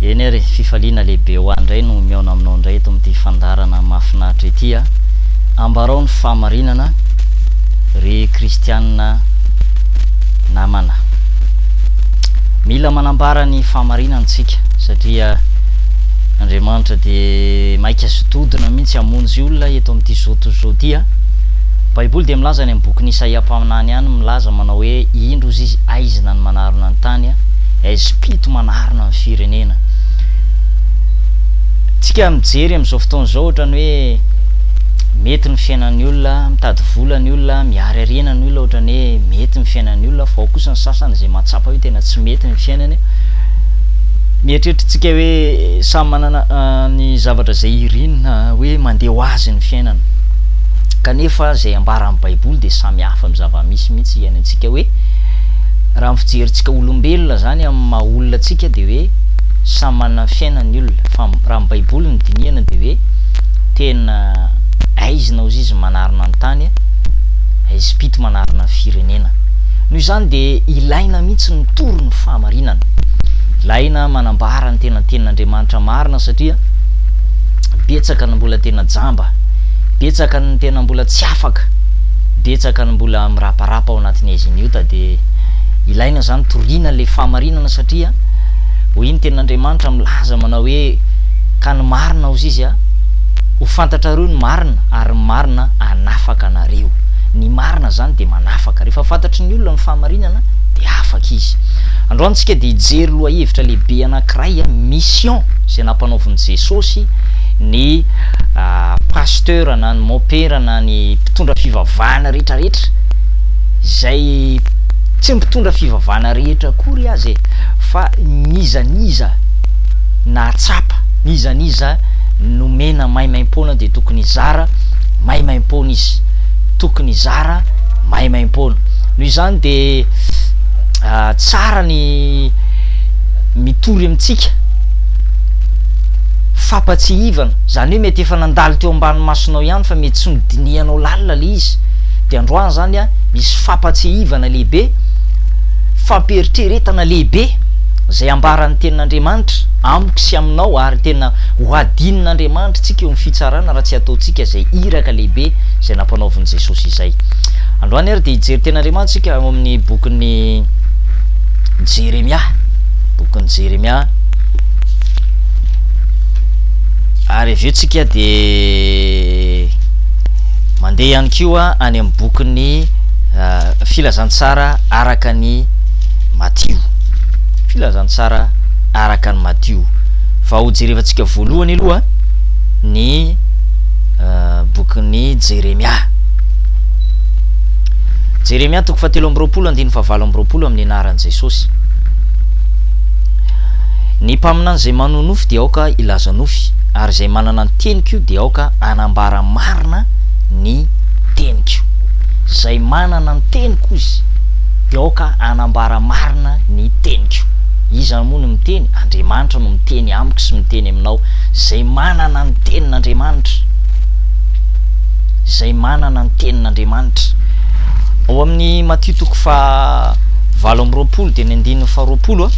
Eny ary e, fifaliana lehibe ho ahy indray no mihaona aminao indray eto amin'ity fandaharana mahafinaritra ity a! Ambarao ny fahamarinana ry kristianina namana. Mila manambara ny fahamarinana isika satria Andriamanitra dia maika sy dodona mihitsy hamonjy olona eto amin'ity zao tontolo izao ity a! Baiboly dia milaza any amin'ny bokin'i Isaia mpaminany any milaza manao hoe indro izy aizina ny manarona ny tany a! fitomana arina ny firenena. Tsika mijery amin'izao fotoana izao ohatrany hoe mety ny fiainan'ny olona, mitady vola ny olona, miary arena ny olona ohatrany hoe mety ny fiainan'ny olona fa ao kosa ny sasany izay mahatsapa hoe tena tsy mety ny fiainany. Mieritreritritsika hoe samy manana ah, ny zavatra izay irinina hoe mandeha ho azy ny fiainana. Kanefa izay ambaran'ny Baiboly dia samy hafa amin'ny zava-misy mihitsy iainantsika hoe Raha ny fijerintsika olombelona izany amin'ny maha olona antsika dia hoe samy manana ny fiainany ny olona fa raha ny baiboly no dinihana dia hoe tena aizina ozy izy manarina ny tany a aizim-pito manarina ny firenena noho izany dia ilaina mihitsy ny mitory ny fahamarinana ilaina manambara ny tena tenin'andriamanitra marina satria betsaka ny mbola tena jamba betsaka ny tena mbola tsy afaka betsaka ny mbola miraparapa ao anatin'ny haiziny ota dia ilaina izany toriana ilay fahamarinana satria hoy ny tenin'Andriamanitra milaza manao hoe ka ny marina hozy izy a ho fantatrareo ny marina ary ny marina anafaka anareo ny marina izany dia manafaka rehefa fantatry ny olona ny fahamarinana dia afaka izy androany tsika dia hijery lohahevitra lehibe anankiray a mission izay nampanaovin'i Jesosy ny ah, pasteur na ny mopera na ny mpitondra fivavahana rehetrarehetra izay tsy mpitondra fivavahana rehetra akory aza e, fa ny iza ny iza nahatsapa, ny iza ny iza nomena maimaimpoana dia tokony hizara maimaimpoana izy, tokony hizara maimaimpoana. Noho izany dia tsara ny mitory amintsika fampatsiahivana, izany hoe mety efa nandalo teo ambany masonao ihany fa mety tsy nodinihanao lalina ilay izy, dia androany izany a, misy fampatsiahivana lehibe, fampiheritreretana lehibe izay ambaran'ny tenin'Andriamanitra amiko sy aminao ary tena ho hadinin'Andriamanitra antsika eo amin'ny fitsarana raha tsy ataontsika izay iraka lehibe izay nampanaovin'i Jesosy izay. Androany ary dia hijery tenin'Andriamanitra isika ao amin'ny bokin'ny Jeremia, bokin'ny Jeremia. Ary avy eo tsika dia Mandeha ihany koa any amin'ny bokin'ny Filazantsara araka an'i Matio. Filazantsara araka an'i Matio. Vao hojerevantsika voalohany aloha ny bokin'i Jeremia. Jeremia toko fahatelo amby roapolo andininy fahavalo amby roapolo amin'ny anaran'i Jesosy. Ny mpaminany izay manonofy dia aoka hilaza nofy, ary izay manana ny teniko dia aoka hanambara marina ny teniko. Izay manana ny teniko izy dia aoka hanambara marina ny teniko. Iza moa no miteny? Andriamanitra no miteny amiko sy miteny aminao. Izay manana ny tenin'Andriamanitra. Izay manana ny tenin'Andriamanitra. Ao amin'ny Matio toko fahavalo amby roapolo dia ny andininy faharoapolo a.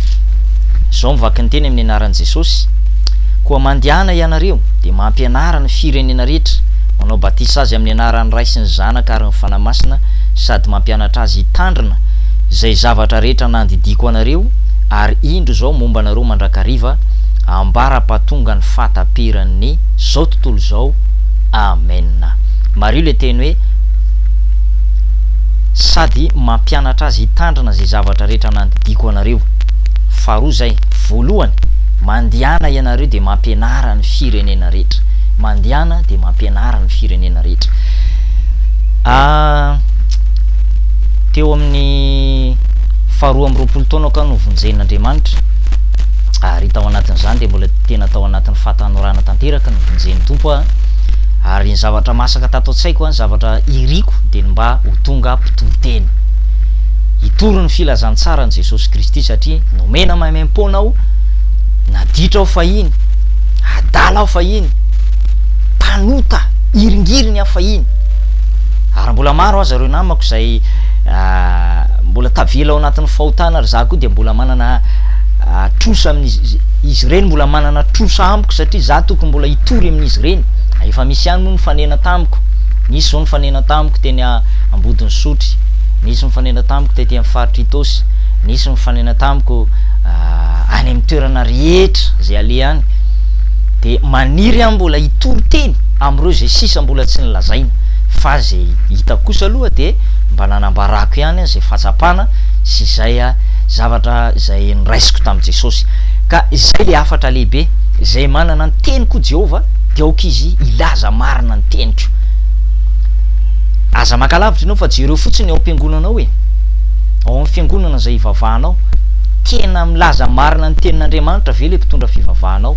Izao ny vakinteny amin'ny anaran'i Jesosy. Koa mandehana ianareo dia mampianara ny firenena rehetra, manao batisa azy amin'ny anaran'ny Ray sy ny Zanaka ary ny Fanahy Masina sady mampianatra azy hitandrina izay zavatra rehetra nandidiako anareo, ary indro izao momba anareo mandrakariva ambara-pahatonga ny fahataperan'ny izao tontolo izao. Amena. Mariho ilay teny hoe sady mampianatra azy hitandrina izay zavatra rehetra nandidiako anareo. Faharoa izay, voalohany, mandehana ianareo dia mampianara ny firenena rehetra. Mandehana dia mampianara ny firenena rehetra. Teo amin'ny faharoa amby roapolo taona ka no vonjen'Andriamanitra ary tao anatin'izany dia mbola tena tao anatin'ny fahatanorana tanteraka ny vonjen'ny Tompo aho ary ny zavatra masaka tato an-tsaiko ny zavatra iriko dia ny mba ho tonga mpitory teny hitory ny filazantsara ny Jesosy Kristy satria nomena maimaimpona aho naditra aho fahiny adala aho fahiny, mpanota hiringiriny aho fahiny, ary mbola maro aza ireo namako izay mbola tavela ao anatin'ny fahotana ary za koa dia mbola manana trosa amin'izy izy ireny mbola manana trosa amiko satria za tokony mbola hitory amin'izy ireny ah, efa misy ihany moa nifanena tamiko nisy zao nifanena tamiko teny ambodin'ny sotry nisy mifanena tamiko tety amin'ny faritry Itaosy nisy mifanena tamiko ah, any amin'ny toerana rehetra izay alehany dia maniry aho mbola hitory teny amin'ireo izay sisa mbola tsy nolazaina fa izay hitako kosa aloha dia mba nanambarako ihany aho izay fahatsapana sy izay ah, zavatra izay noraisiko tamin'i Jesosy. Ka izay ilay hafatra lehibe, izay manana ny teniko i Jehovah dia aoka izy hilaza marina ny teniko. Aza maka lavitra ianao fa jereo fotsiny ny ao am-piangonanao e, ao amin'ny fiangonana izay ivavahanao. Tena milaza marina ny tenin'Andriamanitra ve ilay mpitondra fivavahana ao?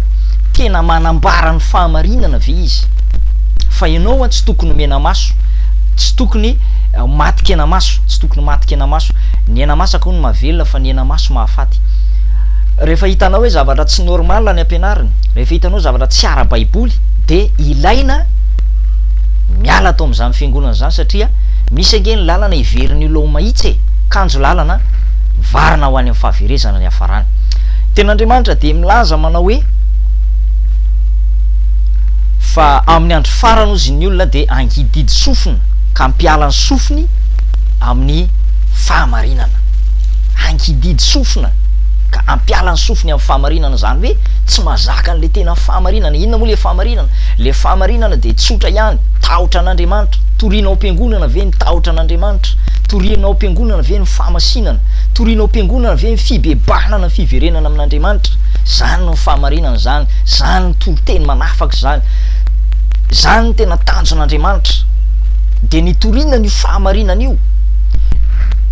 Tena manambara ny fahamarinana ve izy? Fa ianao an tsy tokony omena maso, tsy tokony maty kenamaso, tsy tokony maty kenamaso. Ny aina masaka hono mahavelona fa ny aina maso mahafaty. Rehefa hitanao hoe zavatra tsy normal ny ampianariny, rehefa hitanao zavatra tsy ara-baiboly dia ilaina miala ato amin'izany fiangonana izany satria misy ange ny lalana heverin'io laoma itsy e! Kanjo lalana an! varina ho any amin'ny fahaverezana ny hafarana. Ny Tenin'Andriamanitra dia milaza manao hoe, Fa amin'ny andro farany hozy ny olona dia hangidihidy sofina ka hampiala ny sofiny amin'ny fahamarinana. Hangidihidy sofina ka hampiala ny sofiny amin'ny fahamarinana, izany hoe tsy mahazaka an'ilay tena fahamarinana. Inona moa ilay fahamarinana? Ilay fahamarinana dia tsotra ihany, tahotra an'Andriamanitra. Toriana ao am-piangonana ve ny tahotra an'Andriamanitra? Toriana ao am-piangonana ve ny fahamasinana? Toriana ao am-piangonana ve ny fibebahana na ny fiverenana amin'Andriamanitra? Izany no fahamarinana izany, izany no toriteny manafaka izany, izany no tena tanjon'Andriamanitra. Dia nitoriana an'io fahamarinana io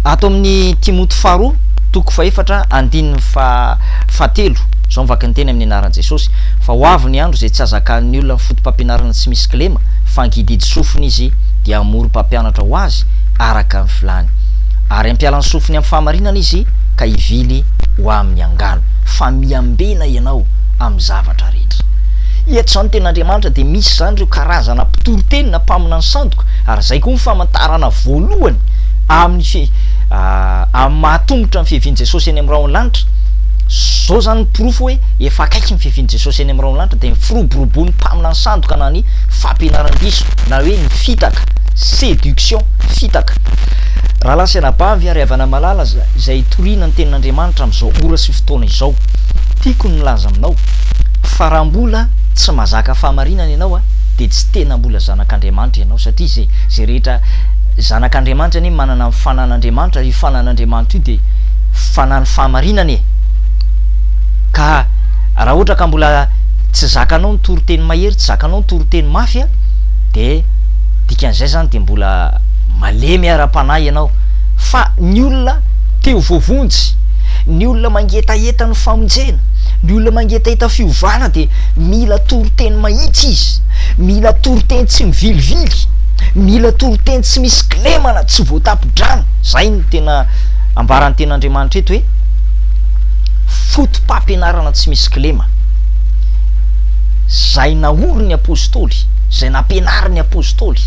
ato amin'ny Timoty faharoa toko fahefatra andininy fahatelo, izao ny vakin'ny teny amin'ny anaran'i Jesosy, Fa ho avy ny andro izay tsy hazakan'ny olona ny foto-pampianarana tsy misy kilema, fa hangididy sofina izy, dia hamory mpampianatra ho azy, hevitra araka ny filàny, ary hampiala ny sofiny amin'ny fahamarinana izy ka hivily ho amin'ny angano, fa miambena ianao amin'ny zavatra rehetra. Eto izany ny tenin'Andriamanitra dia misy izany ireo karazana mpitoriteny na mpaminany sandoka, ary izay koa ny famantarana voalohany amin'ny fi amin'ny mahatomotra ny fiavian'i Jesosy eny amin'ny rahon'ny lanitra. Izao izany ny porofo hoe efa akaiky ny fiavian'i Jesosy eny amin'ny rahon'ny lanitra dia ny firoboroboan'ny mpaminany sandoka na ny fampianaran-diso na hoe ny fitaka, Séduction, fitaka. Rahalahy sy anabavy ary havana malala izay itoriana ny Tenin'Andriamanitra amin'izao ora sy fotoana izao, tiako ny milaza aminao fa raha mbola tsy mazaka fahamarinana ianao dia tsy tena mbola zanak'Andriamanitra ianao satria izay izay rehetra zanak'Andriamanitra anie manana ny fanan'Andriamanitra ary io fanan'Andriamanitra io dia fanan'ny fahamarinana e! ka raha ohatra ka mbola tsy zakanao ny toriteny mahery, tsy zakanao ny toriteny mafy dia dikan'izay zany dia mbola malemy ara-panahy ianao fa ny olona te ho voavonjy, ny olona mangetaheta ny famonjena, ny olona mangetaheta fiovana dia mila toriteny mahitsy izy, mila toriteny tsy mivilivily, mila toriteny tsy misy kilemana, tsy voatapon-drano, izay no tena ambaran'ny ten'Andriamanitra eto hoe fotopampianarana tsy misy kilema izay naorin'ny apostoly. izay nampianarin'ny Apostoly.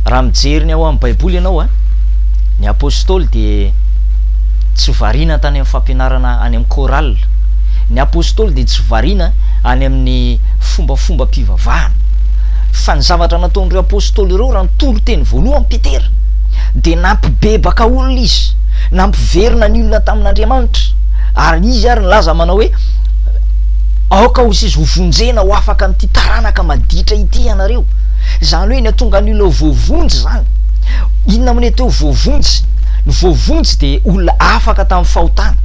Raha mijery ny ao amin'ny Baiboly ianao, eh, ny Apostoly dia tsy variana tany amin'ny fampianarana any amin'ny chorale. Ny Apostoly dia tsy variana any amin'ny fombafomba mpivavahana. Fa ny zavatra nataon'ireo Apostoly ireo raha nitory teny voalohany Petera dia nampibebaka olona izy, nampiverina ny olona tamin'Andriamanitra. Ary izy ary nilaza manao hoe Aoka ho seza hovonjena ho afaka amin'ity taranaka maditra ity ianareo. Izany hoe ny hatongan'ny olona ho voavonjy izany. Inona moa ny atao hoe voavonjy? Ny voavonjy dia olona afaka tamin'ny fahotana.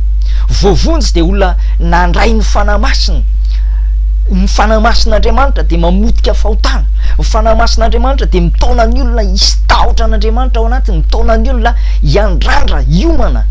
Voavonjy dia olona nandray ny Fanahy Masina. Ny Fanahy Masin'Andriamanitra dia mamotika fahotana. Ny Fanahy Masin'Andriamanitra dia mitaona ny olona hisy tahotra an'Andriamanitra ao anatiny, mitaona ny olona hiandrandra, hiomana.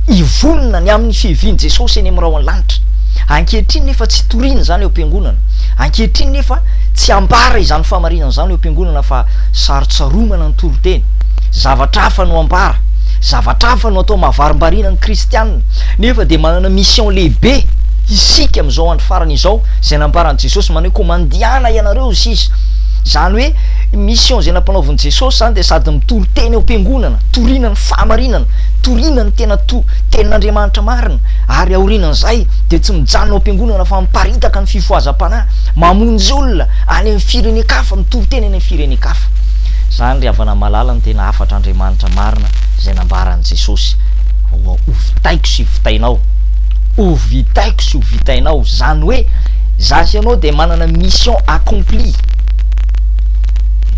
hivonona ny amin'ny fiavian'i Jesosy eny amin'ny rahon'ny lanitra. Ankehitriny nefa tsy toriana izany eo am-piangonana. Ankehitriny nefa tsy ambara izany fahamarinana izany eo am-piangonana fa sarotsaromana ny toriteny. Zavatra hafa no ambara. Zavatra hafa no atao mahavarimbariana ny kristiana. Nefa dia manana mission lehibe isika amin'izao andro farany izao izay nambaran'i Jesosy manao hoe koa mandehana ianareo hoy sisa. Izany hoe mission izay nampanaovin'i Jesosy izany dia sady mitoriteny eo am-piangonana, toriana ny fahamarinana, Torina ny tena to, tenin'Andriamanitra marina, ary aorianan'izay dia tsy mijanona ao am-piangonana fa miparitaka ny fifohazam-panahy, mamonjy olona any amin'ny firenen-kafa, mitoriteny any amin'ny firenen-kafa. Izany ry havana malala ny tena hafatr'Andriamanitra marina izay nambaran'i Jesosy, Hovitaiko sy hovitainao, hovitaiko sy hovitainao, izany hoe izaho sy ianao dia manana mission accomplie,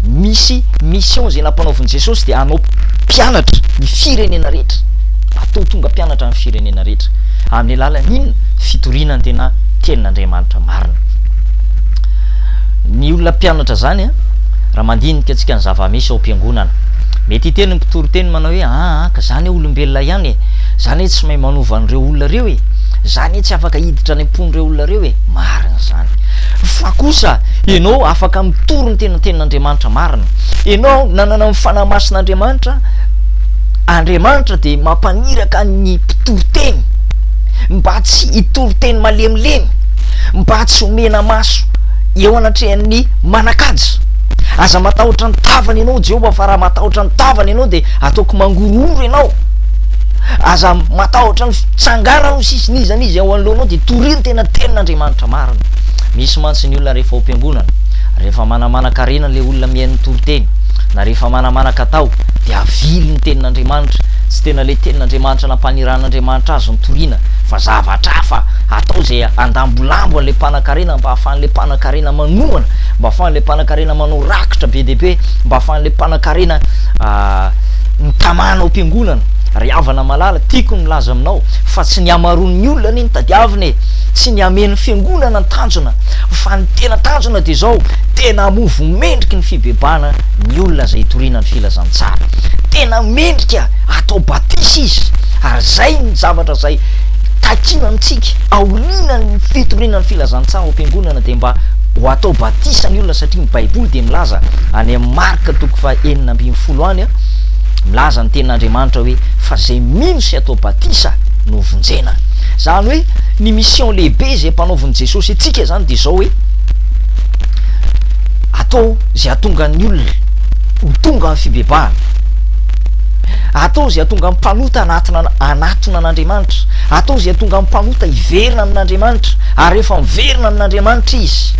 misy mission izay nampanaovin'i Jesosy dia hanao. Mpianatra ny firenena rehetra. Atao tonga mpianatra ny firenena rehetra. Amin'ny alalan'ny inona? Fitoriana ny tena tenin'Andriamanitra marina. Ny olona mpianatra izany, raha mandinika antsika ny zava-misy ao am-piangonana, mety hiteny ny mpitory teny manao hoe, Aa, ka izany hoe olombelona ihany e! Izany hoe tsy mahay manova an'ireo olona ireo e! Izany hoe tsy afaka hiditra any am-pon'ireo olona ireo e! Marina izany. Fa kosa, ianao afaka mitory ny tena tenin'Andriamanitra marina. Ianao nanana ny Fanahy Masin'Andriamanitra, Andriamanitra dia mampaniraka ny mpitoriteny mba tsy hitoriteny malemilemy, mba tsy ho mena-maso eo anatrehan'ny manan-kaja. Aza matahotra ny tavany ianao, Jehovah, fa raha matahotra ny tavany ianao dia ataoko mangorohoro ianao. Aza matahotra ny fitsanganany ho sisin'iza n'iza eo anoloanao, dia torio ny tena tenin'Andriamanitra marina. Misy mantsy ny olona rehefa ao am-piangonana, Rehefa manamanan-karena ilay olona mihaino ny toriteny, na rehefa manamanan-katao, dia avily ny Tenin'Andriamanitra. Tsy tena ilay Tenin'Andriamanitra nampaniran'Andriamanitra azy no toriana, fa zavatra hafa atao izay handambolambo an'ilay mpanankarena mba hahafahan'ilay mpanankarena manohana, mba hahafahan'ilay mpanankarena manao rakitra be dia be, mba hahafahan'ilay mpanankarena mitamana ao am-piangonana. Ry havana malala, tiako ny milaza aminao fa tsy ny hamaroan'ny olona anie no tadiavina e! Tsy ny hahamehy ny fiangonana no tanjona, Fa ny tena tanjona dia izao, tena hamovo mendriky ny fibebahana ny olona izay hitoriana ny filazantsara. Tena mendrika hatao batisa izy, ary izay ny zavatra izay takiana amintsika, aorianan'ny fitoriana ny filazantsara ao am-piangonana dia mba ho atao batisa ny olona satria ny baiboly dia milaza any amin'ny Marka toko faha enina ambin'ny folo any a, milaza ny tenin'Andriamanitra hoe fa izay mino sy atao batisa no vonjena. Izany hoe ny mission lehibe izay mpanaovin-. Jesosy antsika zany dia izao hoe, atao izay hahatonga ny olona ho tonga amin'ny fibebahana, atao izay hahatonga ny mpanota hanatona hanatona an'Andriamanitra, atao izay hahatonga ny mpanota hiverina amin'Andriamanitra, ary rehefa miverina amin'Andriamanitra izy,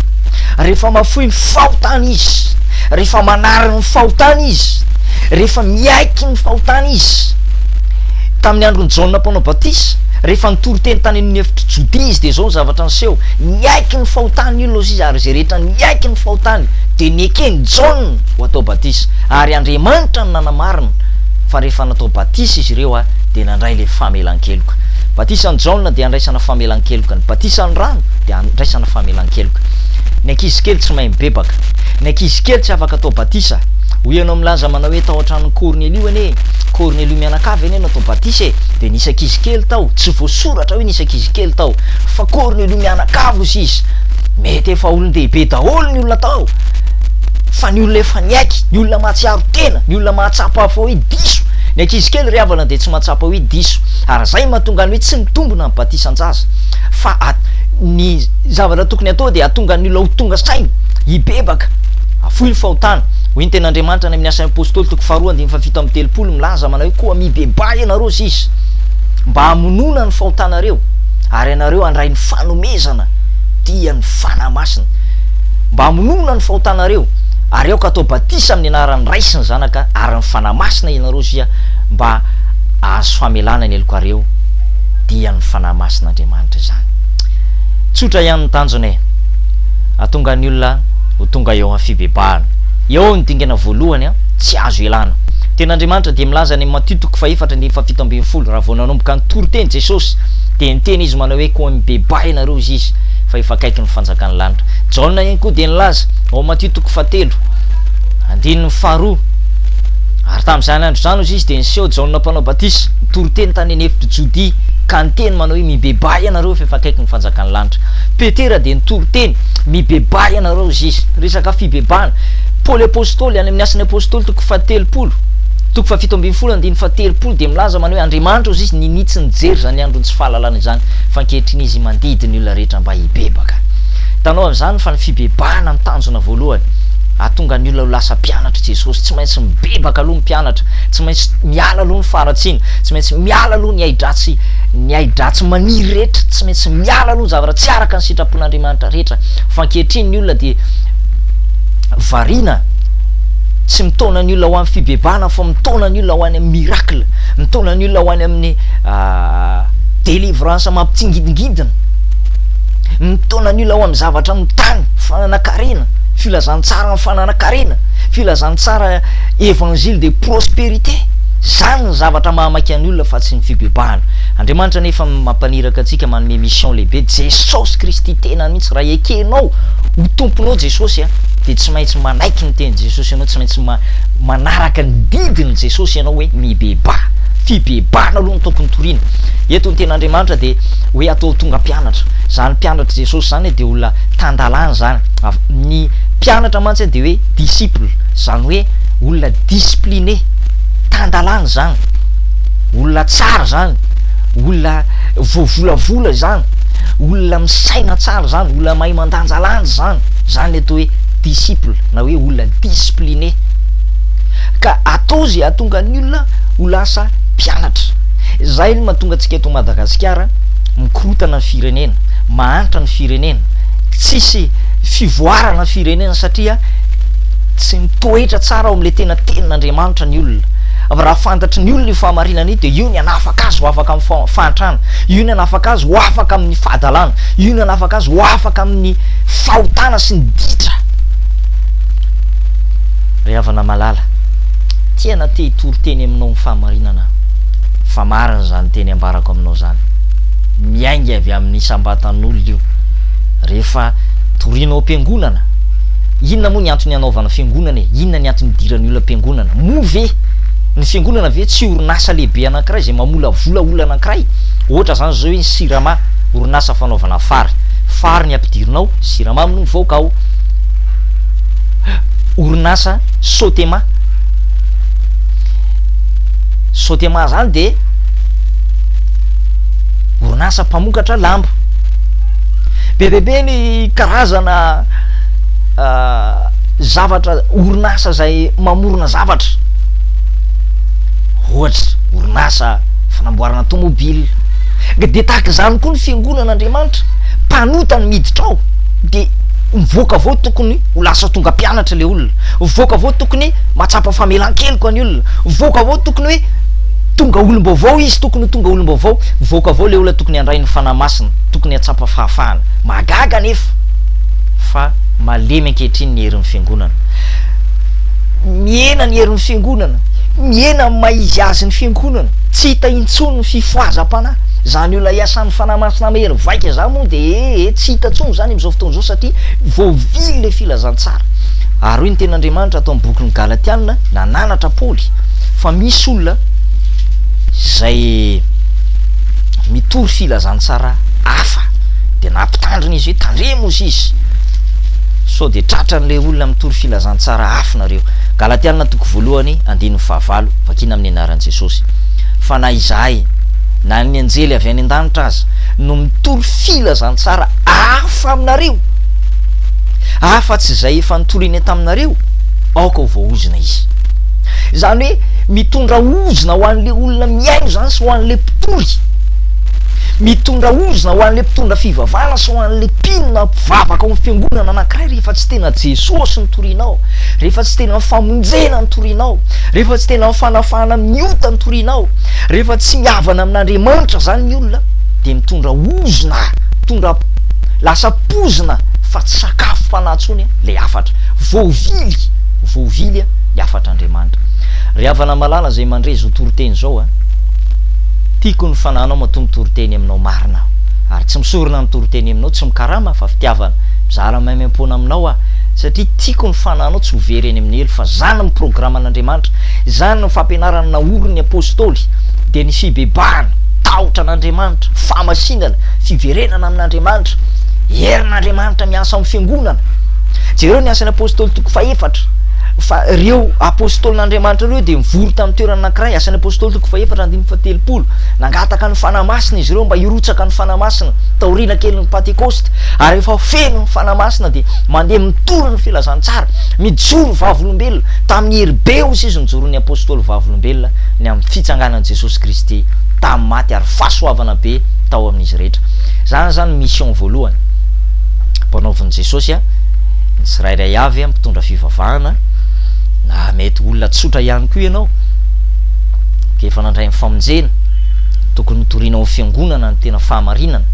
rehefa mahafoy ny fahotany izy, rehefa manary ny fahotany izy, rehefa miaiky ny fahotany izy, tamin'ny andron'i Jaona mpanao batisa, Rehefa nitory teny tany amin'ny efitr'i Jodia izy, dia izao ny zavatra niseho, Niaiky ny fahotany i Losias, ary izay rehetra niaiky ny fahotany dia neken'i Jaona ho atao batisa. Ary Andriamanitra no nanamarina fa rehefa natao batisa izy ireo dia nandray ilay famelan-keloka. Ny batisan'i Jaona dia handraisana famelan-keloka. Ny batisan'ny rano dia handraisana famelan-keloka. Ny ankizy kely tsy mahay mibebaka. Ny ankizy kely tsy afaka atao batisa. Hoy ianao milaza manao hoe tao an-tranon'i Kornelio anie. Kornelio mianakavy anie natao batisa e! Dia nisy ankizy kely tao, tsy voasoratra hoe nisy ankizy kely tao, fa Kornelio mianakavy hozy izy. Mety efa olon-dehibe daholo ny olona tao, fa ny olona efa niaiky, ny olona mahatsiaro tena, ny olona mahatsapa fa hoe diso. Ny ankizy kely ry havana dia tsy mahatsapa hoe diso, ary izay mahatonga ny hoe tsy mitombina ny batisan-jaza. Fa ny zavatra tokony hatao dia hahatonga ny olona ho tonga saina, hibebaka, hafoy ny fahotana. Hoy ny tenin'Andriamanitra any amin'ny Asan'ny Apostoly, toko faharoa, andininy faharoa. Fa fito amby telopolo milaza manao hoe, Koa mibebaha ianareo sisa, mba hamonoana ny fahotanareo, ary ianareo handray ny fanomezana dia ny Fanahy Masina. Mba hamonoana ny fahotanareo, ary aoka hatao batisa amin'ny anaran'ny Ray sy ny Zanaka ary ny Fanahy Masina ianareo sia mba hahazo famelana ny helokareo, dia ny Fanahy Masin'Andriamanitra izany. Tsotra ihany ny tanjona e. Hahatonga ny olona ho tonga eo amin'ny fibebahana. Eo ny dingana voalohany an. Tsy azo ialana. Teny Andriamanitra dia milaza any amin'ny Matio toko fahefatra andininy fahafito ambin'ny folo, raha vao nanomboka nitory teny Jesosy, dia niteny Izy manao hoe, Koa mibebaha ianareo, hoy Izy, fa efa akaiky ny fanjakan'ny lanitra. Jaona ihany koa dia nilaza, ao amin'ny Matio toko fahatelo, andininy faharoa, Ary tamin'izany andro izany, hozy Izy, dia niseho Jaona Mpanao Batisa, nitory teny tany an'efitr'i Jodia, ka niteny manao hoe, Mibebaha ianareo, fa efa akaiky ny fanjakan'ny lanitra. Petera dia nitory teny, Mibebaha ianareo, hozy Izy. Resaka fibebahana. Paoly Apostoly, any amin'ny Asan'ny Apostoly, toko fahatelopolo, toko fahafito ambin'ny folo, andininy fahatelopolo, dia milaza manao hoe, Andriamanitra hozy Izy ninitsy nijery izany andron'ny tsy fahalalana izany, fa ankehitriny Izy mandidy ny olona rehetra mba hibebaka. Hitanao amin'izany fa ny fibebahana no tanjona voalohany, hahatonga ny olona ho lasa mpianatr'i Jesosy. Tsy maintsy mibebaka aloha ny mpianatra, tsy maintsy miala aloha ny faharatsiana, tsy maintsy miala aloha ny hai-dratsy, ny hai-dratsy maniry rehetra, tsy maintsy miala aloha ny zavatra tsy araka ny sitrapon'Andriamanitra rehetra, fa ankehitriny ny olona dia, variana tsy mitaona ny olona ho amin'ny fibebahana fa mitaona ny olona ho any amin'ny miracle mitaona ny olona ho any amin'ny ah, délivrance mampitsingidingidina mitaona ny olona ho amin'ny zavatra amin'ny tany fananakarena filazantsara amin'ny fananakarena filazantsara évangile de prospérité zany ny zavatra mahamaika an'ny olona fa tsy ny fibebahana andriamanitra nefa mampaniraka antsika manome mission lehibe jesosy kristy tena mihitsy Raha ekenao ho Tomponao Jesosy a, dia tsy maintsy manaiky ny tenin'i Jesosy ianao, tsy maintsy ma, manaraka ny didin'i Jesosy ianao hoe mibebaha. Fibebahana aloha no tokony toriana. Eto ny Tenin'Andriamanitra dia hoe atao tonga mpianatra. Izany mpianatr'i Jesosy izany dia olona tan-dalàna izany. Av, ny mpianatra mantsy dia hoe disciple, izany hoe olona discipline, tan-dalàna izany, olona tsara izany, olona. voavolavola izany, olona misaina tsara izany, olona mahay mandanjalanja izany, izany ilay atao hoe disciple na hoe olona discipline, ka atao izay hahatonga ny olona ho lasa mpianatra, izay no mahatonga antsika eto Madagasikara mikorotana ny firenena, mahantra ny firenena, tsisy fivoarana ny firenena satria tsy mitoetra tsara ao amin'ilay tena tenin'Andriamanitra ny olona. Fa raha fantatry ny olona io fahamarinana io dia io ny hanafaka azy ho afaka amin'ny fahantrana, io ny hanafaka azy ho afaka amin'ny fahadalana, io ny hanafaka azy ho afaka amin'ny fahotana sy ny ditra. Ry havana malala, tena te hitory teny aminao ny fahamarinana aho, fa marina izany teny ambarako aminao izany. Miainga avy amin'ny isam-batan'olona io. Rehefa toriana ao am-piangonana, inona moa ny antony hanaovana fiangonana e? Inona ny antony hidiran'ny olona am-piangonana? Moa ve ny fiangonana ve tsy orinasa lehibe anankiray izay mamolavola olona anankiray? Ohatra izany izao hoe ny Sirama, orinasa fanaovana fary. Fary ny ampidirinao, siramamy no mivoaka ao. Orinasa Sotema. Sotema izany dia orinasa mpamokatra lamba. Be dia be ny karazana zavatra orinasa izay mamorona zavatra ohatra orinasa fanamboarana tomobile ka dia tahaka izany koa ny fiangonan'Andriamanitra mpanota ny miditra ao dia mivoaka avy ao tokony ho lasa tonga mpianatra ilay olona mivoaka avy ao tokony mahatsapa famelan-keloka ny olona mivoaka avy ao tokony hoe tonga olom-baovao izy tokony ho tonga olom-baovao mivoaka avy ao ilay olona tokony handray ny fanahy masina tokony hahatsapa fahafahana mahagaga anefa fa malemy ankehitriny ny herin'ny Fiangonana. Mihena ny herin'ny Fiangonana, mihena amin'ny maha izy azy ny Fiangonana, tsy hita intsony ny fifohazam-panahy. Izany olona iasan'ny Fanahy Masina mahery vaika izany moa dia ee ee tsy hita intsony izany amin'izao fotoana izao satria voavily ilay filazantsara. Ary hoy ny Tenin'Andriamanitra ato amin'ny bokin'ny Galatiana, nananatra Paoly, fa misy olona izay mitory filazantsara hafa. dia nampitandrina izy hoe tandremo ozy izy sao dia tratran'ilay olona mitory filazantsara afo nareo. Galatiana toko voalohany andininy fahavalo, vakina amin'ny anaran'i Jesosy. Fa na izahay, na ny anjely avy any an-danitra aza, no mitory filazantsara hafa aminareo, afa-tsy izay efa notoriny taminareo, aoka ho voaozona izy. Izany hoe mitondra ozona ho an'ilay olona mihaino izany sy ho an'ilay mpitory. Mitondra ozona ho an'ilay mpitondra fivavahana sy ho an'ilay mpino na mpivavaka ao amin'ny fiangonana anankiray rehefa tsy tena Jesosy no torianao, rehefa tsy tena ny famonjena no torianao, rehefa tsy tena ny fanafahana amin'ny ota no torianao, rehefa tsy mihavana amin'Andriamanitra izany ny olona dia mitondra ozona, mitondra lasa poizina fa tsy sakafo fanahy intsony ilay hafatra. Voavily, voavily ny hafatr'Andriamanitra. Ry havana malala izay mandre izao toriteny izao a! Tiako ny fanahinao matoa mitoriteny aminao marina aho ary tsy misorona ny toriteny aminao tsy mikarama fa fitiavana mizara maimaimpoana aminao aho satria tiako ny fanahinao tsy ho very any amin'ny helo fa zany ny programan'Andriamanitra zany ny fampianarana naorin'ny apostoly dia ny fibebahana tahotra an'Andriamanitra fahamasinana fiverenana amin'Andriamanitra herin'Andriamanitra miasa amin'ny fiangonana jereo ny asan'ny apostoly toko fahefatra fa ireo apostolin'Andriamanitra ireo dia mivory tamin'ny toerana anankiray asan'ny apostoly toko fahefatra Andininy fahatelopolo, Nangataka ny Fanahy Masina izy ireo mba hirotsaka ny Fanahy Masina taoriana kelin'ny Pantekosta, ary rehefa feno ny Fanahy Masina dia mandeha mitory ny filazantsara. Mijoro vavolombelona, tamin'ny hery be osa izy nojoron'ny Apostoly vavolombelona ny amin'ny fitsanganan'i Jesosy Kristy tamin'ny maty ary fahasoavana be tao amin'izy rehetra. Izany izany mission voalohany ampanaovin'i Jesosy an, ny tsirairay avy an, mpitondra fivavahana, na mety olona tsotra ihany koa ianao, dia efa nandray ny famonjena, tokony hotorina ho fiangonana ny tena fahamarinana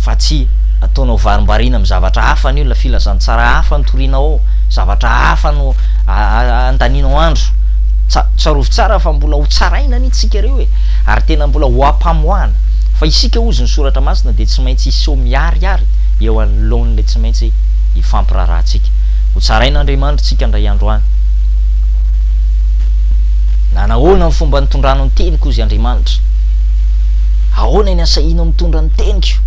fa tsy ataonao varimbariana amin'ny zavatra hafa ny olona, filazantsara hafa no torianao ao, zavatra hafa no andanianao andro, tsarovy tsara fa mbola ho tsaraina anie tsika ireo e! ary tena mbola ho ampamoahana, fa isika ozy ny soratra masina dia tsy maintsy hiseho miharihary eo anoloan'ilay tsy maintsy hifampiraharahantsika, ho tsarain'Andriamanitra tsika indray andro any. Na nahoana ny fomba nitondranao ny teniko, hozy Andriamanitra? Ahoana ny asahianao mitondra ny teniko?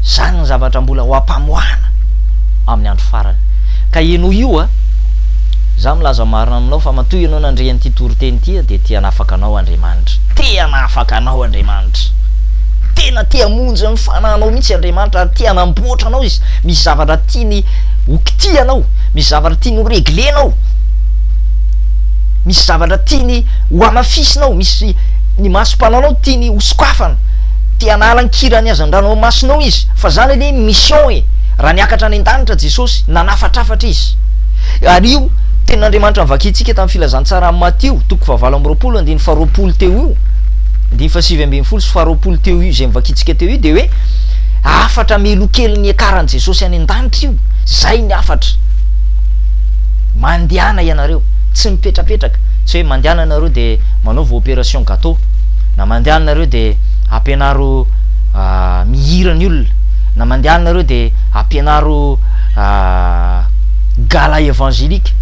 Izany ny zavatra mbola ho ampamoahana amin'ny andro farany. Ka henoy io a! Izaho milaza marina aminao fa matoa ianao nandre an'ity toriteny ity dia te hanafaka anao Andriamanitra. Te hanafaka anao Andriamanitra. Tena te hamonjy ny fanahinao mihitsy Andriamanitra ary te hanamboatra anao Izy. Misy zavatra tiany ho kitihanao. Misy zavatra tiany ho reglena ao, misy zavatra tiany ho amafisina ao, misy ny masom-panaonao tiany ho sokafana, te hanala ny kiran'ny hazandranomasinao izy, fa zany anie ny mission e! Raha niakatra any an-danitra Jesosy, nanafatrafatra izy. Ary io Tenin'Andriamanitra novakintsika tamin'ny Filazantsara amin'i Matio, toko fahavalo amby roapolo, andininy faharoapolo teo io, andininy fahasivy ambin'ny folo sy faharoapolo teo io, izay novakintsika teo io dia hoe hafatra melokelin'ny hiakaran'i Jesosy any an-danitra io. Zay ny hafatra. Mandehana ianareo. Tsy mipetrapetraka. Tsy hoe mandehana nareo de manaova operation gateau. Na mandehana nareo de ampianaro mihira ny olona. Na mandehana nareo de ampianaro gala evangelique.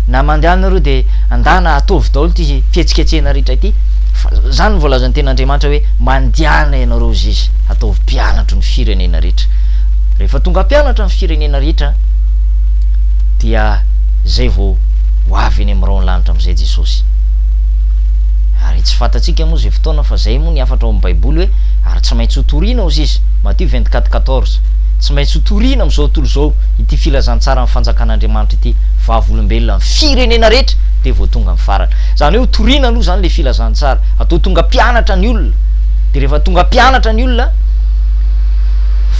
Na mandehana nareo de andana ataovy daholo ty fihetsiketsehana rehetra ty. Fa zany voalazan'ny tenin'Andriamanitra hoe mandehana ianareo ziz ataovy mpianatro ny firenena rehetra. Rehefa tonga mpianatra ny firenena rehetra dia izay vao ho avy eny amin'ny rahon'ny lanitra amin'izay Jesosy. Ary tsy fantatsika moa izay fotoana fa izay moa ny hafatra ao amin'ny Baiboly hoe ary tsy maintsy ho torina ao sisa, Matthieu vingt quatre quatorze. Tsy maintsy ho torina amin'izao tontolo izao ity filazantsaran'ny fanjakan'Andriamanitra ity, vavolombelona amin'ny firenena rehetra dia vao tonga amin'ny farany. Izany hoe ho torina aloha izany ilay filazantsara, atao tonga mpianatra ny olona, dia rehefa tonga mpianatra ny olona,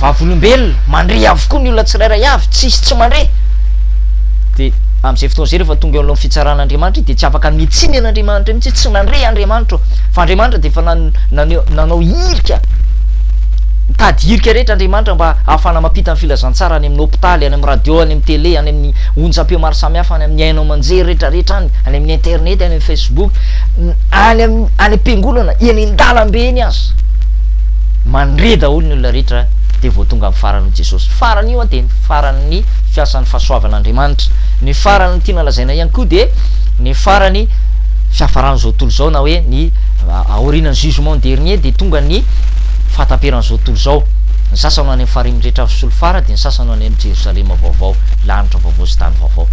vavolombelona, mandre avokoa ny olona tsirairay avy, tsy hisy tsy mandre. Dia amin'izay fotoana izay rehefa tonga eo alohan'ny fitsaran'Andriamanitra izy dia tsy afaka mitsinjana Andriamanitra mihitsy hoe tsy nandre Andriamanitra aho. Fa Andriamanitra dia efa naneho, nanao hirika, nitady hirika rehetra Andriamanitra mba hahafahana mampita ny filazantsara any amin'ny hopitaly, any amin'ny radio, any amin'ny tele, any amin'ny onjampeo maro samihafa, any amin'ny haino aman-jery rehetra rehetra any, any amin'ny internet, any amin'ny facebook, any amin'ny, any am-piangonana, eny an-dalambe eny aza. mandre daholo ny olona rehetra dia vao tonga amin'ny faran'ny Jesosy. Farany io dia ny faran'ny fiasan'ny fahasoavan'Andriamanitra. Ny faran'ny tiana lazaina ihany koa dia ny farany fiafaran'izao tontolo izao na hoe ny aorianan'ny jugement dernier dia tonga ny fahataperan'izao tontolo izao. Ny sasany ho any amin'ny farihin'ny rehetra avy solifara dia ny sasany ho any amin'ny Jerosalema vaovao, lanitra vaovao sy tany vaovao.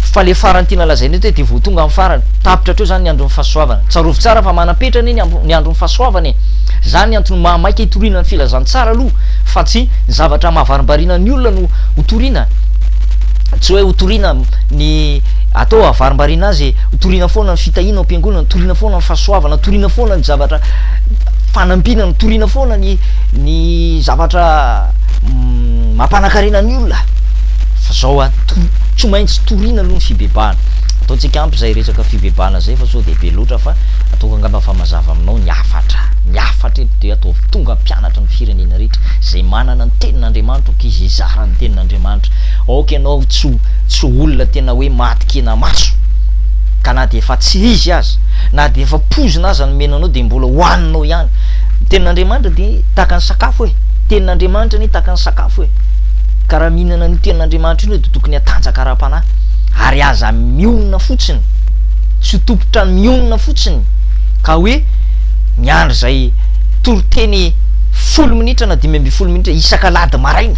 Fa ilay farany tiana lazaina eto hoe dia vao tonga amin'ny farany. Tapitra hatreo izany ny andron'ny fahasoavana. Tsarovy tsara fa manam-petra anie ny andron'ny fahasoavana e! Izany ny antony maha maika hitoriana ny filazantsara aloha fa tsy ny zavatra mahavarimbariana ny olona no ho toriana, tsy hoe ho toriana ny atao hahavarimbariana azy, ho toriana foana ny fitahiana ao am-piangonana, toriana foana ny fahasoavana, toriana foana ny zavatra fanampiana, toriana foana ny ny zavatra mampanakarena ny olona fa zao a, tsy maintsy toriana aloha ny fibebahana, ataontsika ampy izay resaka fibebahana izay fa sao dia be loatra fa. ataoko angamba fa mazava aminao ny hafatra, ny hafatra eto dia ataovy tonga mpianatra ny firenena rehetra izay manana ny tenin'Andriamanitra ok izy hizara ny tenin'Andriamanitra ok ianao tsy tsy olona tena hoe maty kena maso ka na dia efa tsy izy aza na dia efa poizina aza ny mena anao dia mbola hoaninao ihany ny tenin'Andriamanitra dia tahaka ny sakafo e tenin'Andriamanitra anie tahaka ny sakafo e ka raha mihinana an'io tenin'Andriamanitra io dia tokony hatanjaka ara-panahy ary aza mionona fotsiny Tsy ho tompon-trano mionona fotsiny ka hoe miandry izay toriteny folo minitra na dimy ambin'ny folo minitra isak'alahady maraina,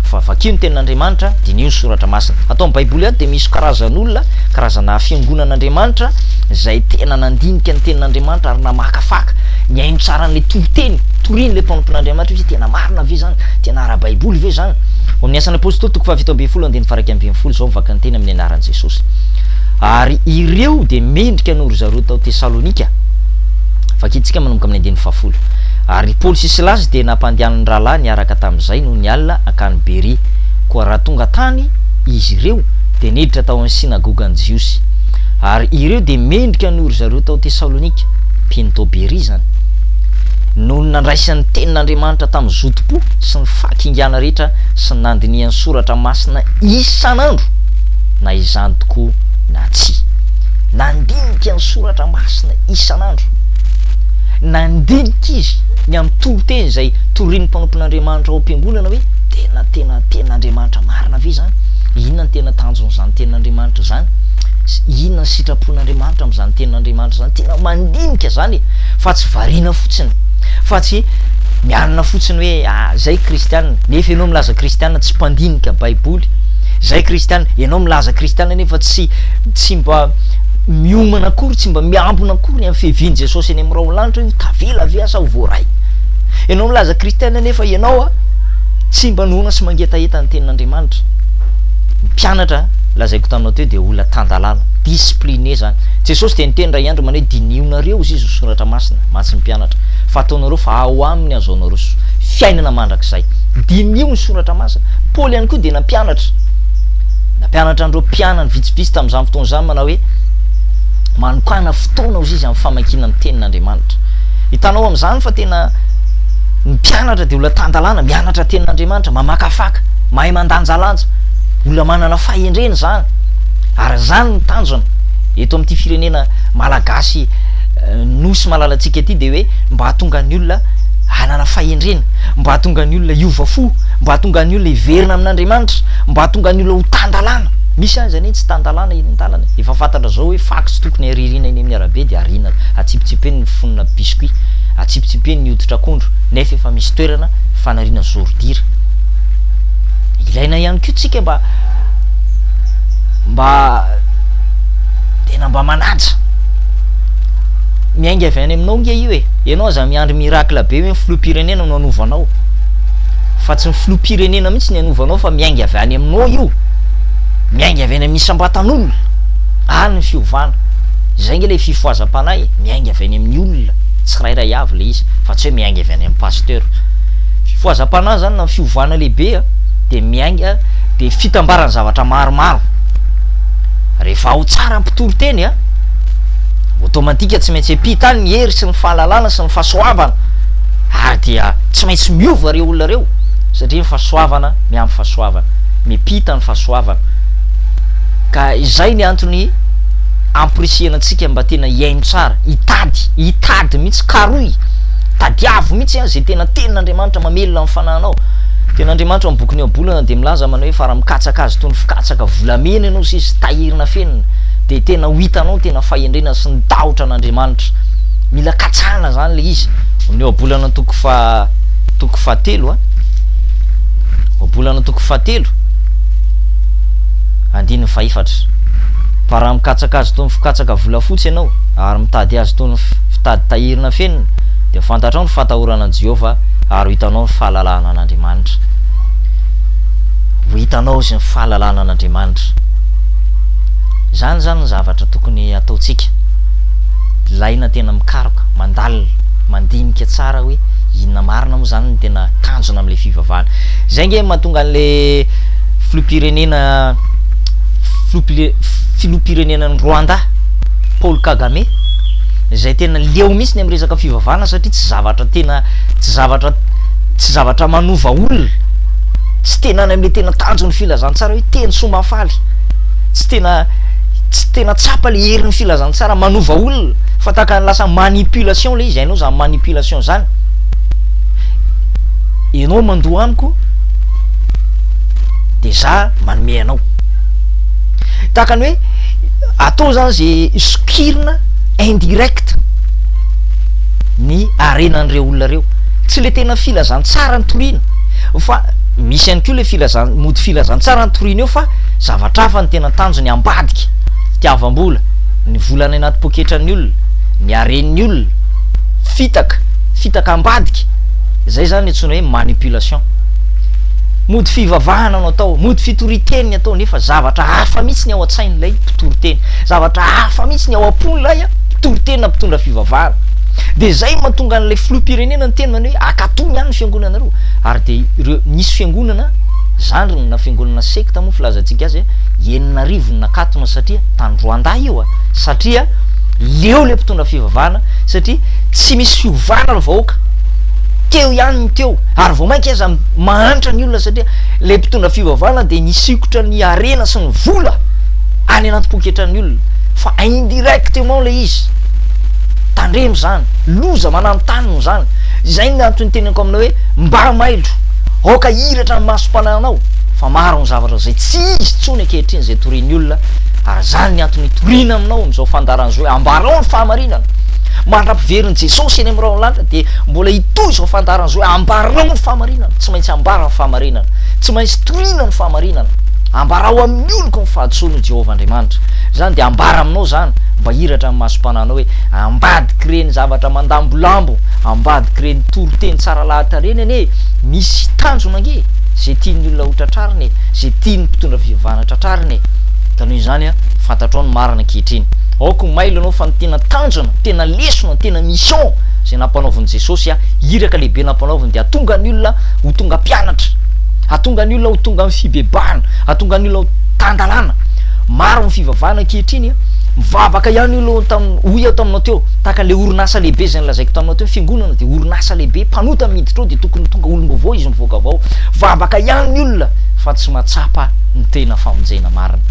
fa vakio ny Tenin'Andriamanitra, diniho ny Soratra Masina. Ato amin'ny Baiboly ato dia misy karazan'olona, karazana fiangonan'Andriamanitra izay tena nandinika ny Tenin'Andriamanitra ary namakafaka, nihaino tsara an'ilay toriteny torian'ilay mpanompon'Andriamanitra hoe tena marina ve izany, tena ara-baiboly ve izany. Ao amin'ny Asan'ny Apostoly toko fahafito ambin'ny folo andininy faha iraika ambin'ny folo, izao ny vakany teny amin'ny anaran'i Jesosy. Ary ireo dia mendrika noho ry zareo tao Tesalonika. Vakintsika manomboka amin'ny andininy fahafolo. Ary i Paoly sy Silasy dia nampandehanan'ny rahalahy niaraka tamin'izay noho ny alina hankany Beria. Koa raha tonga tany izy ireo, dia niditra tao amin'ny synagogan'ny Jiosy. Ary ireo dia mendrika noho ry zareo tao Tesalonika, mpino tao Beria izany, noho ny nandraisan'ny tenin'Andriamanitra tamin'ny zotom-po sy ny fahakingiana rehetra sy ny nandinihany soratra masina isan'andro. na izany tokoa na tsia. Nandinika ny Soratra Masina isan'andro. Nandinika izy ny amin'ny toriteny izay torian'ny mpanompon'Andriamanitra ao am-piangonana hoe tena tena Tenin'Andriamanitra marina ve izany? Inona no tena tanjon'izany Tenin'Andriamanitra izany? Inona ny sitrapon'Andriamanitra amin'izany Tenin'Andriamanitra izany? Tena mandinika izany e! Fa tsy variana fotsiny, fa tsy mianina fotsiny hoe ah, izay kristiana, nefa ianao milaza kristiana tsy mpandinika Baiboly. Zay kristiana, ianao milaza kristiana nefa tsy tsy mba miomana akory, tsy mba miambina akory amin'ny fiavian'i Jesosy any amin'ny rahona lanitra io, tavela ve asa ho voaray? Ianao milaza kristiana nefa ianao a tsy mba noana sy mangetaheta ny tenin'Andriamanitra. Ny mpianatra lazaiko taminao teo dia olona tan-dalàna, discipline zany. Jesosy dia niteny ray andro manao hoe dinihonareo hozizy ny soratra masina, mantsy ny mpianatra, fa ataonareo fa ao aminy azo anao roso. Fiainana mandrakizay. Diniho ny soratra masina. Paoly ihany koa dia nampianatra. Nampianatra an'ireo mpianany vitsivitsy tamin'izany fotoana izany manao hoe, Manokàna fotoana, hozy izy, amin'ny famakiana ny Tenin'Andriamanitra. Hitanao amin'izany fa tena ny mpianatra dia olona tan-dalàna, mianatra ny Tenin'Andriamanitra, mamakafaka, mahay mandanjalanja, olona manana fahendrena izany. Ary izany no tanjona. Eto amin'ity firenena malagasy Nosy malalantsika ity dia hoe mba hahatonga ny olona hanana fahendrena. mba hahatonga ny olona hiova fo, mba hahatonga ny olona hiverina amin'Andriamanitra, mba hahatonga ny olona ho tan-dalàna. Misy aza anie tsy tan-dalàna eny an-dalana e! Efa fantatra zao hoe fax tokony haririna eny amin'ny arabe dia ariana atsipitsipeny ny fonona biscuit, atsipitsipeny ny hoditr'akondro, nefa efa misy toerana fanariana zordira. Ilaina ihany koa tsika mba mba tena mba manaja. Miainga avy any aminao nge io e! Ianao aza miandry miracle be hoe. Filoham-pirenena no anovanao fa tsy ny filoham-pirenena mihitsy ny anovanao fa miainga avy any aminao io, miainga avy any amin'ny isam-batan'olona any ny fiovana, izay nge ilay fifohazam-panahy e, miainga avy any amin'ny olona tsirairay avy ilay izy fa tsy hoe miainga avy any amin'ny pasteur. Fifohazam-panahy izany na ny fiovana lehibe dia miainga dia fitambaran'ny zavatra maromaro, rehefa ao tsara ny mpitory teny a, automatique tsy maintsy ampita any ny hery sy ny fahalalana sy ny. fahasoavana ary dia tsy maintsy miova ireo olona ireo satria ny fahasoavana miampy fahasoavana, miampita ny fahasoavana ka izay ny antony amporisihana antsika mba tena hihaino tsara, hitady, hitady mihitsy, karohy, tadiavo mihitsy an izay tena tenin'Andriamanitra mamelona ny fanahinao. Tenin'Andriamanitra amin'ny bokin'ny Ohabolana dia milaza manao hoe fa raha mikatsaka azy toy ny fikatsaka volamena ianao sy izy tahirin'afenina dia tena ho hitanao ny tena fahendrena sy ny tahotra an'Andriamanitra. mila katsahana zany le izy ny ohabolana toko fa toko fahatelo a ohabolana toko fahatelo andininy fahefatra fa raha mikatsaka azy tony fikatsaka volafotsy ianao ary mitady azy tony fitady tahirina fenina dia fantatrao ny fatahorana an'i Jehovah ary hitanao ny fahalalahana an'Andriamanitra ho hitanao izy ny fahalalahana an'Andriamanitra izany izany ny zavatra tokony hataontsika ilaina tena mikaroka, mandalina, mandinika tsara hoe inona marina moa izany no tena tanjona amin'ilay fivavahana. Izay ange no mahatonga an'ilay filoham-pirenena filoham-pirenenan'i Rwanda Paul Kagame izay tena leo mihitsy ny amin'ny resaka fivavahana satria tsy zavatra tena tsy zavatra tsy zavatra manova olona tsy tena any amin'ilay tena tanjon'ny filazantsara hoe teny soa mahafaly tsy tena tsy tena tsapa le herin'ny filazantsara manova olona fa tahaka ny lasa manipulation le izy hainao zany manipulation zany ianao mandoa amiko de za manome anao tahaka ny hoe atao zany ze sokirina indirect ny arenan'ireo olona reo tsy le tena filazantsara ny torina fa misy ihany koa le filazan- mody filazantsara ny torina eo fa Zavatra hafa no tena tanjony ambadika, fitiavam-bola, ny vola any anaty poketran'ny olona, ny haren'ny olona, fitaka, fitaka ambadika, izay izany antsoina hoe manipulation. Mody fivavahana no atao, mody fitoriteny ny atao nefa zavatra hafa mihitsy ny ao an-tsain'ilay mpitoriteny, zavatra hafa mihitsy ny ao am-pon'ilay mpitoriteny na mpitondra fivavahana. Dia izay no mahatonga an'ilay filoham-pirenena niteny izany hoe, Akatony ihany ny fiangonanareo, ary dia ireo, nisy fiangonana, Zandriny na fiangonana sekta moa filazantsika azy enina arivo no nakatona satria tany Rwanda io a! satria leo le mpitondra fivavahana satria tsy misy fiovana ry vahoaka teo ihany ny teo ary vao mainka aza mahantra ny olona satria le mpitondra fivavahana dia misikotra ny harena sy ny vola any anaty poketran'ny olona fa indirectement le izy tandremo zany loza mananontanona zany izay ny antony teneniko aminao hoe mba mailo Aoka hiratra ny masom-panahinao fa maro ny zavatra izay tsy izy intsony ankehitriny izay torian'ny olona ary izany ny antony hitoriana aminao amin'izao fandaharan'izao hoe ambarao ny fahamarinana. Mandra-piverin'i Jesosy eny amin'ny rahon'ny lanitra dia mbola hitohy izao fandaharan'izao hoe ambarao ny fahamarinana. Tsy maintsy ambara ny fahamarinana. Tsy maintsy toriana ny fahamarinana. Ambarao amin'ny oloko ny fahadisoany hoy Jehovah Andriamanitra. Izany dia ambara aminao izany mba hiratra ny masom-panahinao hoe ambadik'ireny zavatra mandambolambo ambadik'ireny toriteny tsara lahatra ireny anie misy tanjona ange izay tian'ny olona ho tratrarina e, izay tian'ny mpitondra fivavahana tratrarina e. Ka noho izany a, fantatrao ny marina ankehitriny. Aoka ho mailo ianao fa ny tena tanjona, ny tena lesona, ny tena mission izay nampanaovin'i Jesosy a, iraka lehibe nampanaoviny dia hatonga ny olona ho tonga mpianatra, hatonga ny olona ho tonga amin'ny fibebahana, hatonga ny olona ho tan-dalàna. Maro ny fivavahana ankehitriny a, mivavaka ihany olona hoy aho taminao teo, Tahaka ilay orinasa lehibe izay nolazaiko taminao teo, ny fiangonana dia orinasa lehibe, mpanota no miditra ao dia tokony ho tonga olom-baovao izy mivoaka avy ao. Vavaka ihany ny olona fa tsy mahatsapa ny tena famonjena marina.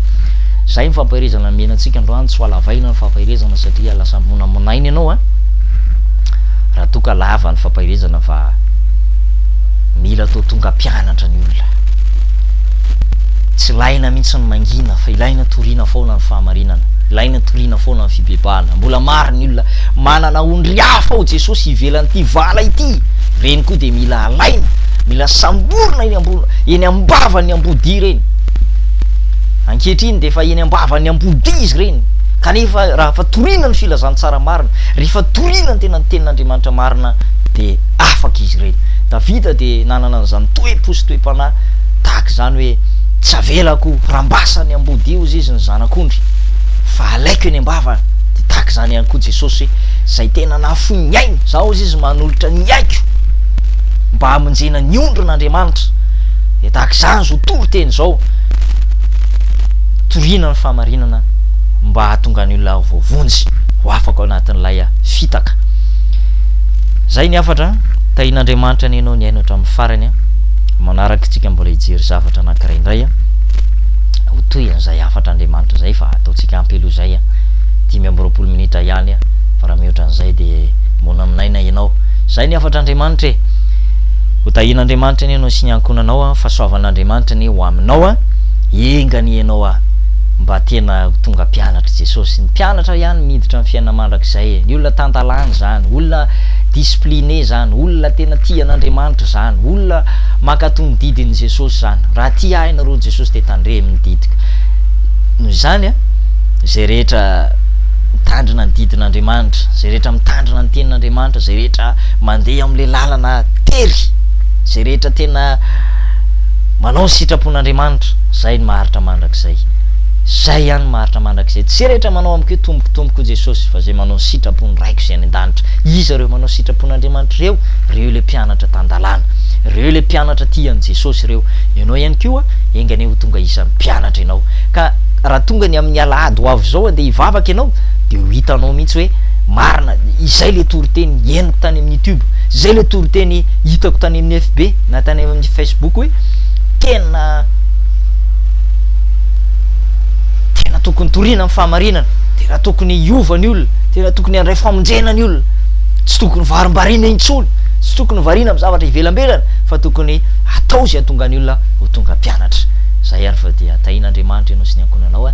Izay ny fampaherezana nomena antsika androany, tsy ho halavaina ny fampaherezana satria lasa monamonaina ianao a! Raha toa ka lava ny fampaherezana fa mila atao tonga mpianatra ny olona. Tsy ilaina mihitsy ny mangina fa ilaina toriana foana ny fahamarinana, ilaina toriana foana ny fibebahana. Mbola maro ny olona manana ondry hafa ao Jesosy ivelan'ity vala ity. Ireny koa dia mila alaina, mila samborina eny ambony eny ambavan'ny ambodia ireny. Ankehitriny dia efa eny ambavan'ny ambodia izy ireny. Kanefa raha fa toriana ny filazantsara marina, rehefa toriana ny tena ny tenin'Andriamanitra marina dia afaka izy ireny. Davida dia nanana an'izany toe-po sy toe-panahy tahaka izany hoe tsy avelako rambasan'ny ambodia hozy izy ny zanak'ondry. Fa alaiko eny am-bava dia tahaka izany ihany koa Jesosy hoe izay tena nahafoy ny ainy, izao hozy izy manolotra ny aiko mba hamonjena ny ondrin' Andriamanitra dia tahaka izany izao toriteny izao toriana ny fahamarinana mba hahatonga ny olona voavonjy ho afaka ao anatin'ilay fitaka. Izay ny hafatra an! Tahin' Andriamanitra anie ianao nihaino hatramin'ny farany an! Manaraka isika mbola hijery zavatra anankiray indray an! ho toy an'izay hafatr'Andriamanitra izay fa ataontsika ampy aloha izay an! dimy amby roapolo minitra ihany an! fa raha mihoatra an'izay dia moana amin'aina ianao! izay ny hafatr'Andriamanitra e! ho tahian'Andriamanitra anie ianao sy ny ankohonanao an! fahasoavan'Andriamanitra anie ho aminao an! enga anie ianao an! mba tena ho tonga mpianatr'i Jesosy! ny mpianatra ihany miditra ny fiainana mandrakizay e! ny olona tan-dalàna izany! olona discipline izany! olona tena tia an'Andriamanitra izany! olona mankato ny didin'i Jesosy izany! raha tia ahy ianareo Jesosy dia tandremo ny didiko. Noho izany, izay rehetra mitandrina ny didin'Andriamanitra, izay rehetra mitandrina ny tenin'Andriamanitra, izay rehetra mandeha amin'ilay lalana tery, izay rehetra tena manao ny sitrapon'Andriamanitra, izay no maharitra mandrakizay. Izay ihany no maharitra mandrakizay. Tsy izay rehetra manao amiko hoe Tompoko, Tompoko, hoy Jesosy, fa izay manao ny sitrapon'ny Raiko izay any an-danitra. Iza ireo manao sitrapon'Andriamanitra ireo? Ireo ilay mpianatra tan-dalàna, ireo ilay mpianatra tia an'i Jesosy. mpianatra ireo. Ianao ihany koa, enga anie ho tonga isan'ny mpianatra ianao. Ka raha tonga ny amin'ny alahady ho avy izao andeha hivavaka ianao, dia ho hitanao mihitsy hoe marina izay ilay toriteny henoko tany amin'ny YouTube, izay ilay toriteny hitako tany amin'ny FB na tany amin'ny Facebook hoe tena tena tokony toriana amin'ny fahamarinana, tena tokony hiova ny olona, tena tokony handray famonjena ny olona, tsy tokony varimbariana intsony, tsy tokony variana amin'ny zavatra ivelambelany. fa tokony atao izay hahatonga ny olona ho tonga mpianatra. Zay ary fa dia tahian'Andriamanitra ianao sy ny ankohonanao a!